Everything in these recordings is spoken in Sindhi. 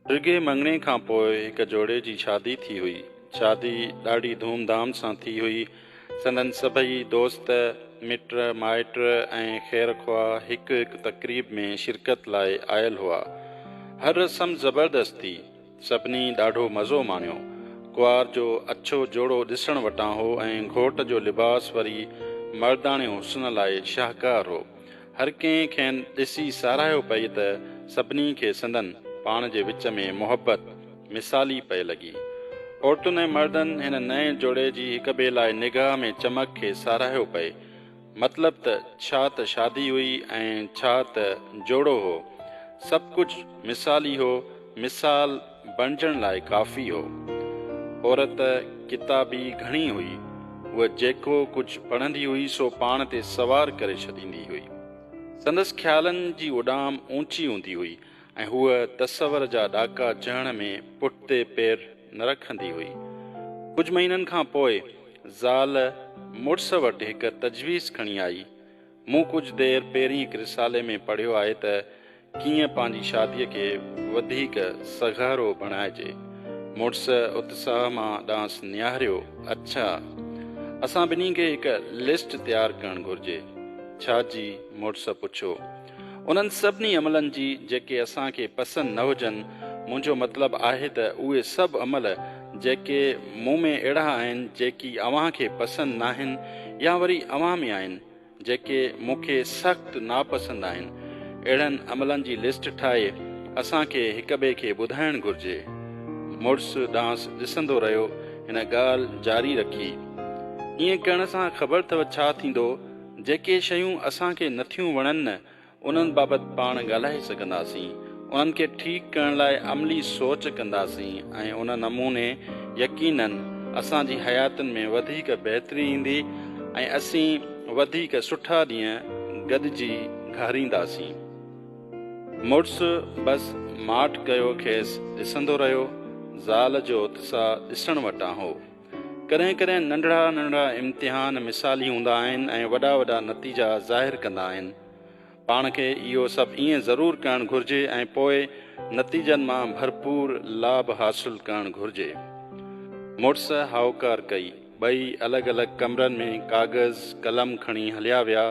ڊگهي مڱڻي کان پوء هڪ جوڙي جي شادي ٿي هئي. شادي ڏاڍي ڌوم ڌام سان ٿي هئي. سندن سڀئي دوست، مٽ مائٽ ۽ خير خواهه هڪ هڪ تقريب ۾ شرڪت لاء آيل هئا. هر رسم زبردست ٿي. سڀني ڏاڍو مزو ماڻيو. ڪنوار جو اڇو جوڙو ڏسڻ وٽان هو ۽ گهوٽ جو لباس وري مرداڻي حسن لاء شاهڪار هو. هر ڪنهن کين ڏسي ساراهيو پئي ته سڀني کي سندن پاڻ جي وچ ۾ محبت مثالي پئي لڳي. عورتن ۽ مردن هن نئين جوڙي جي هڪ ٻئي لاء نگاهه ۾ چمڪ کي ساراهيو پئي. مطلب ته ڇا ته شادي هئي ۽ ڇا ته جوڙو هو. سڀ ڪجهه مثالي هو، مثال بڻجڻ لاء ڪافي هو. عورت ڪتابي گهڻي هئي، هوء جيڪو ڪجهه پڙهندي هئي سو پاڻ تي سوار ڪري ڇڏيندي هئي. سندس خيالن جي اڏام اوچي هوندي هئي، ۽ هوء تصور جا ڏاڪا چهڻ ۾ پٺتي پير نه رکندي هئي. ڪجهه مهينن کان پوء زال مڙس وٽ هڪ تجويز کڻي آئي. مون ڪجهه دير پهرين هڪ رسالي ۾ پڙهيو آهي ته ڪيئن پنهنجي شاديء کي وڌيڪ سگهارو بڻائجي. مڙس اتساهه مان ڏانهس نهاريو، اڇا! اسان ٻنهي کي هڪ لسٽ تيار ڪرڻ گهرجي. ڇا جي؟ مڙس پڇيو. انهن سڀني عملن جي جيڪي اسان کي پسند نه هجن، منهنجو مطلب آهي ته اهي سڀ عمل جيڪي مون ۾ اهڙا آهن جيڪي اوهان کي پسند ناهن يا وري اوهان ۾ آهن جيڪي مون کي سخت ناپسند آهن، اهڙن عملن جي لسٽ ٺاهي اسان کي هڪٻئي کي ٻڌائڻ گهرجي. مڙس ڏانهس ڏسندو رهيو هن ڳالهه جاري رکي. ائين ڪرڻ سان خبر اٿو ڇا ٿيندو؟ جيڪي شيون اسان کي نٿيون وڻن نه انهن بابت پاڻ ڳالهائي سگهنداسين، انهن کي ٺيڪ ڪرڻ لاء عملي سوچ ڪنداسين ۽ ان نموني يقيناً اسان جي حياتين ۾ وڌيڪ بهتري ايندي ۽ اسين وڌيڪ سٺا ڏينهن گڏجي گهارينداسين. مڙس بس ماٺ ڪيو کيس ڏسندو رهيو، زال جو اتساهه ڏسڻ وٽان هو. ڪڏهن ڪڏهن ننڍڙا ننڍڙا امتحان مثالي هوندا آهن ۽ وڏا وڏا نتيجا ظاهر ڪندا آهن. پاڻ کي اهو سڀ ائين ضرور ڪرڻ گهرجي ۽ پوء نتيجن مان ڀرپور لاڀ حاصل ڪرڻ گهرجي. مڙس هائوڪار ڪئي. ٻئي الڳ الڳ ڪمرن ۾ ڪاغذ قلم کڻي هليا ويا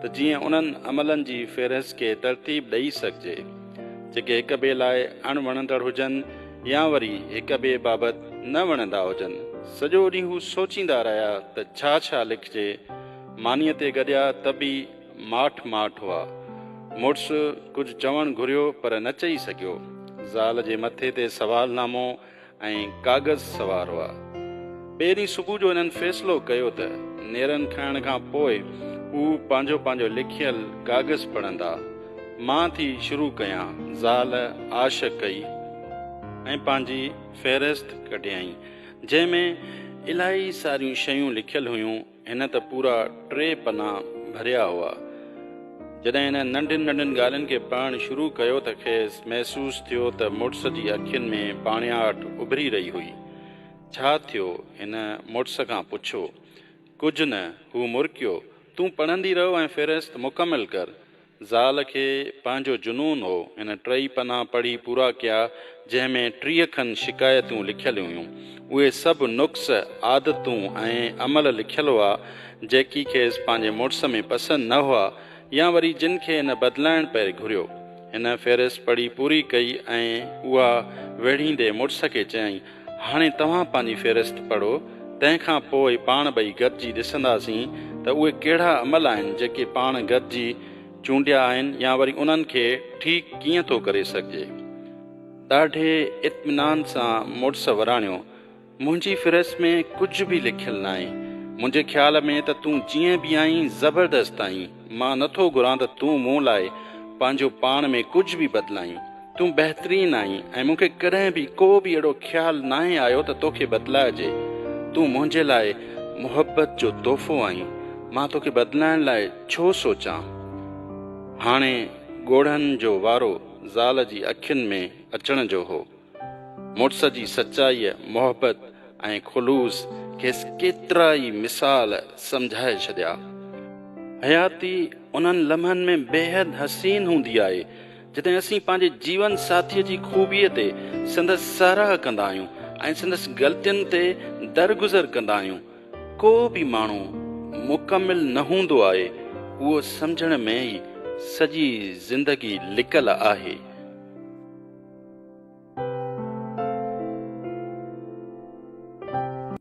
ته جيئن انهن عملن جي فهرست کي ترتيب ڏئي سگهجي، جيڪي هڪ ٻئي لاء اڻ وڻندڙ هجن يا وري هڪ ٻئي بابت نه وڻندا هجن، سڄو ڏينهن هو سوچيندا رهيا ته ڇا ڇا لکجي، مانيء تي گڏيا ته به ماٺ ماٺ هئا. مڙس ڪجهه چوڻ گهريو پر نه چئي سگهيو. زال جي مٿي تي سوال نامو ۽ ڪاغذ سوار هئا. ٻئي ڏينهن صبح جو هنن فيصلو ڪيو ته نيرن کائڻ کان پوء هو پنهنجو پنهنجو لکيل ڪاغذ پڙهندا. مان ٿي شروع ڪيان. زال آش ڪئي ۽ پنهنجي فهرست ڪڍيائين، جنهن ۾ الاهي ساريون شيون لکيل هيون. هن ته پورا ٽي پنا ڀريا هئا. جڏهن هن ننڍين ننڍين ڳالهين کي پڙهڻ شروع ڪيو ته کيس محسوس ٿيو ته مڙس جي اکين ۾ پاڻياٺ اڀري رهي هئي. ڇا ٿيو؟ هن مڙس کان پڇيو. ڪجهه نه، هو مرڪيو. تون پڙهندي رهه ۽ فهرست مڪمل ڪر. زال کي پنهنجو جنون هو. هن ٽئي پنا پڙهي پورا ڪيا، جنهن ۾ ٽيهه کن شڪايتون لکيل هيون. اهي سڀ نقص، عادتون ۽ عمل لکيل هئا، جيڪي کيس پنهنجي مڙس ۾ پسند نه هئا يا وري جن کي هن بدلائڻ پئي گهريو. هن فهرست پڙهي پوري ڪئي ۽ اها ويڙهيندي مڙس کي چيائين، هاڻي توهان پنهنجي فهرست پڙهو، تنهن کان پوء پاڻ ٻئي گڏجي ڏسنداسين ته اهي ڪهڙا عمل آهن جيڪي پاڻ گڏجي چونڊيا آهن يا وري انهن کي ٺيڪ ڪيئن ٿو ڪري سگهجي. ڏاڍي اطمينان سان مڙس وراڻيو، منهنجي فهرست ۾ ڪجهه به لکيل ناهي. منهنجي خيال ۾ ته تون جيئن به آهين زبردست آهين. مان نٿو گهران ته تون مون لاء پنهنجو پاڻ ۾ ڪجهه به بدلائين. تون بهترين آهين ۽ مون کي ڪڏهن به ڪو به اهڙو خيال ناهي آيو ته توکي بدلائجي. تون منهنجي لاء محبت جو تحفو آهين. مان توکي بدلائڻ لاء ڇو سوچان؟ هاڻي ڳوڙهن جو وارو زال جي اکين ۾ اچڻ جو هو. مڙس جي سچائيء، محبت ۽ خلوص کيس ڪيترا ئي مثال سمجهائي ڇڏيا. حياتي انهن لمحن ۾ بيحد حسين هوندي آهي، جڏهن اسين پنهنجي جيون ساٿيء جي خوبيء تي سندس ساراهه ڪندا آهيون ۽ سندس غلطين تي درگذر ڪندا آهيون، ڪو به ماڻهو مڪمل نه هوندو آهي، اهو سمجهڻ ۾ ئي سڄي زندگي لڪل آهي.